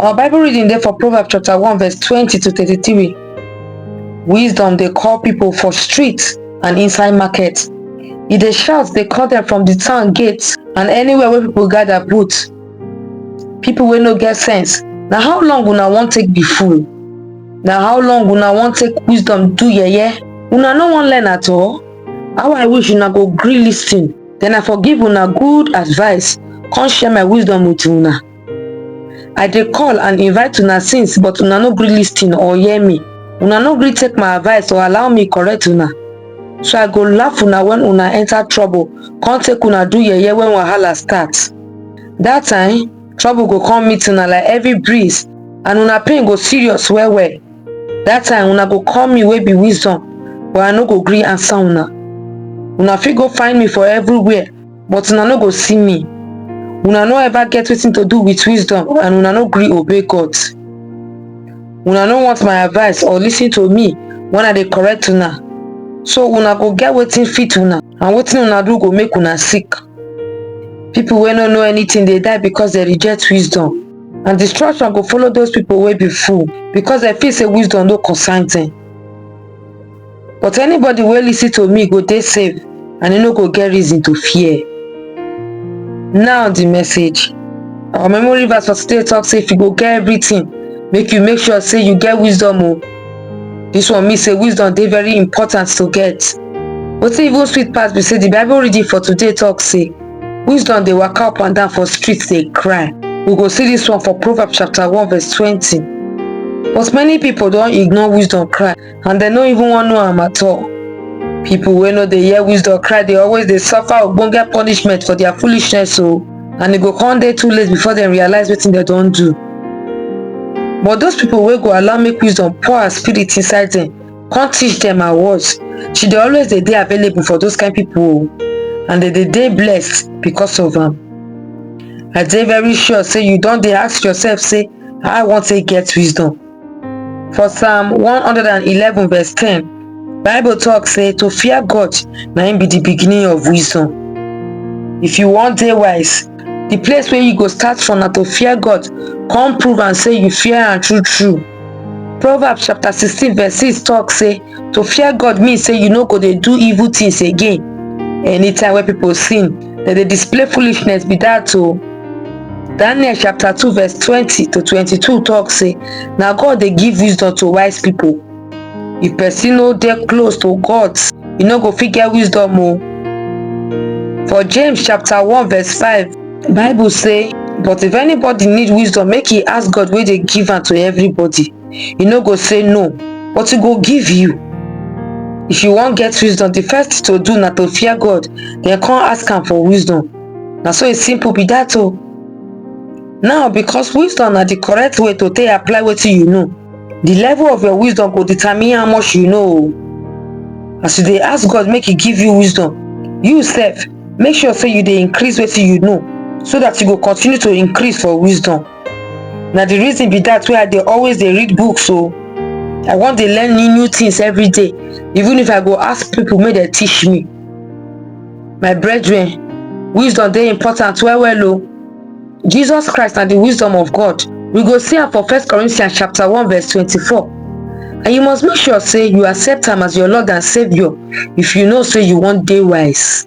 Our Bible reading there for Proverbs chapter 1 verse 20 to 33. Wisdom they call people for streets and inside markets. If they shout, they call them from the town gates and anywhere where people gather put. People will no get sense. Now how long will I want take be fool? Now how long will I want take wisdom do yeah yeah? Una no one learn at all. How I wish una go gree listen. Then I forgive una good advice. Come share my wisdom with una. i dey call and invite una since but una no gree lis ten or hear me una no gree take my advice or allow me correct una so i go laugh una when una enter trouble come take una do yeye when wahala start that time trouble go come meet una like heavy breeze and una pain go serious well well that time una go call me wey be wisdom but i no go gree answer una una fit go find me for everywhere but una no go see me una no ever get wetin to do with wisdom and una no gree obey god una no want my advice or lis ten to me when i dey correct una so una go get wetin fit una and wetin una do go make una sick people wey no know anything dey die because dem reject wisdom and destruction go follow those people wey be fool because dem feel say wisdom no concern dem But anybody wey listen to me go dey safe and e no go get reason to fear. Now the message. Our memory verse for today talk say if you go get everything, make you make sure say you get wisdom o. This one mean say wisdom dey very important to get. Wetin even sweet pass be say the Bible reading for today talk say wisdom dey waka up and down for street dey cry. We go see this one for Proverbs chapter 1 verse 20. But many people don ignore wisdom cry and dem no even wan know am at all people wey no dey hear wisdom cry dey always dey suffer ogbonge punishment for their foolishness o oh. and e go come dey too late before dem realize wetin dem don do but those people wey go allow make wisdom pour her spirit inside dem come teach dem her words she dey always dey dey available for those kind people o oh. and dem dey dey blessed because of am i dey very sure say you don dey ask yourself say how i wan take get wisdom For Psalm 111 verse 10, Bible talk say to fear God na im be the beginning of wisdom. If you wan dey wise, the place wey you go start from na to fear God, come prove am say you fear am true true. Proverbs chapter 16 verse 6 talk say to fear god mean say you no go dey do evil things again anytime wey people sin dem dey display foolishness be that o daniel chapter two verse twenty to twenty-two talk say na god dey give wisdom to wise people if person no dey close to god e no go fit get wisdom o for james chapter one verse five bible say but if anybody need wisdom make e ask god wey dey give am to everybody e no go say no but e go give you if you wan get wisdom the first thing to do na to fear god then come ask am for wisdom na so e simple be that o now because wisdom na the correct way to take apply wetin you know the level of your wisdom go determine how much you know o as you dey ask god make e give you wisdom you sef make sure say you dey increase wetin you know so that you go continue to increase for wisdom na the reason be that wey i dey always dey read books o i wan dey learn new new things every day even if i go ask people make dem teach me my brethren wisdom dey important well well o jesus christ na the wisdom of god we go see am for first corinthians chapter 1 verse 24 and you must make sure say you accept am as your lord and saviour if you know say you wan dey wise